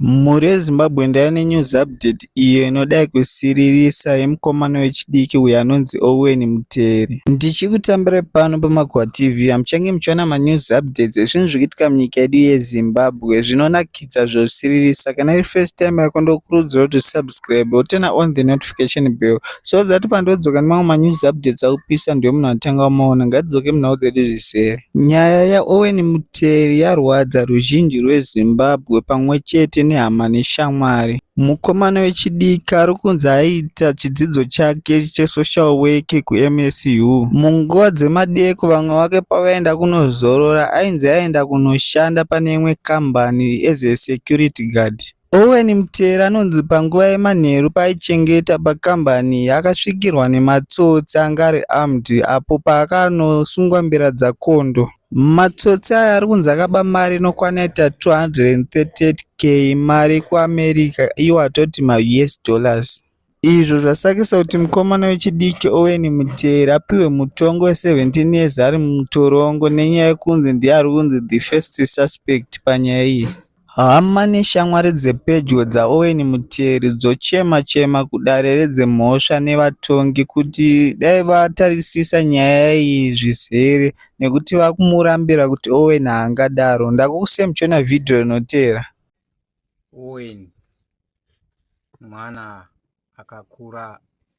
Mhuri yeZimbabwean ndaiva nenews update iyo inodai kusiririsa yemukomana wechidiki uyo anonzi Owen Muteri. Ndichikutambirai pano paMakuhwa TV apo muchange muchiona manews updates ezvinhu zviri kuitika munyika yedu yeZimbabwe zvinonakidza zvosiririsa. Kana iri first time yako ndokurudzira kuti usubscribe wotena on the notification bell So that pandodzoka nemamwe manews updates akupisa ndiwo munhu atanga kumaona. Ngatidzoke munhau dzedu zvisere. Nyaya yaOwen Muteri yarwadza ruzhinji rweZimbabwe pamwe chete nehama neshamwari. Mukomana wechidiki ari kunzi aiita chidzidzo chake chesocial work kuMSU. Munguva dzemadeko vamwe vake pavaenda kunozorora ainzi aienda kunoshanda pane imwe kambani as a security guard. Owen Mutera anonzi panguva yemanheru paaichengeta pakambani iyi akasvikirwa nematsotsi anga ari armed apo paakanosungwa mbira dzakondo. Matsotsi aya ari kunzi akaba mari inokwana yaita 238k mari yekuAmerica iwo atoti maUS dollars. izvo zvasakisa kuti mukomana wechidiki Owen Muteri apihwe mutongo we 17 years ari mutorongo nenyaya yekunzi ndiye ari kunzi the first suspect panyaya iyi. Hama neshamwari dzepedyo dzaOwen Muteri dzochema chema kudare redzemhosva nevatongi kuti dai vatarisisa nyaya iyi zvizere nekuti vakumurambira kuti Owen haangadaro. Ndakukusemchona vhidhiyo rinotevera. Owen mwana akakura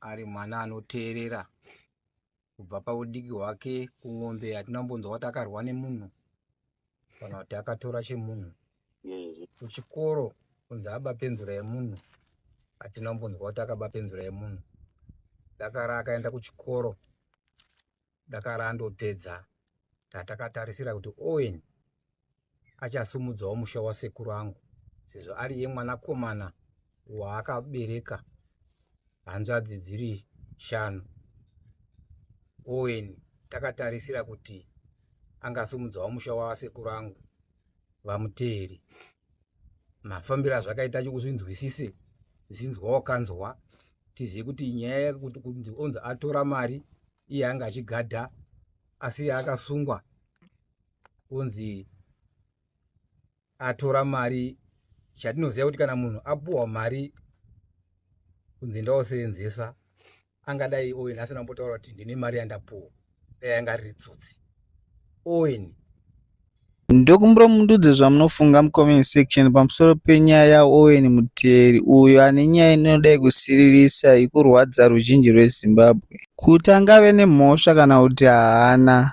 ari mwana anoteerera kubva paudiki hwake kumombe hatina kumbonzwa kuti akarwa nemunhu kana kuti akatora chemunhu kuchikoro kunzi aba penzura yemunhu hatina kumbonzwa kuti akaba penzura yemunhu dakara akaenda kuchikoro dakara andopedza tatakatarisira kuti owen achasumudzawo musha wasekuru angu sezvo ari ye mwanakomana waakabereka hanzvadzi dziri shanu owen takatarisira kuti angasumudzawo musha wasekuru angu vamuteeri mafambiro azvakaita acho kuzvinzwisise zinzwa wakanzwa tizive kuti nyaya yekuti kunzi onzi atora mari iye anga achigadha asi akasungwa kunzi atora mari chatinoziva kuti kana munhu apuwa mari kunzi ndaosenzesa angadai owen asina kumbotaura kuti ndine mari yandapuwa dai anga riri tsotsi owen ndokumbura mundudze zvamunofunga mucomment section pamusoro penyaya yaowen muteri uyo ane nyaya inoda yekusiririsa ikurwadza ruzhinji rwezimbabwe kuti angave nemhosva kana kuti haana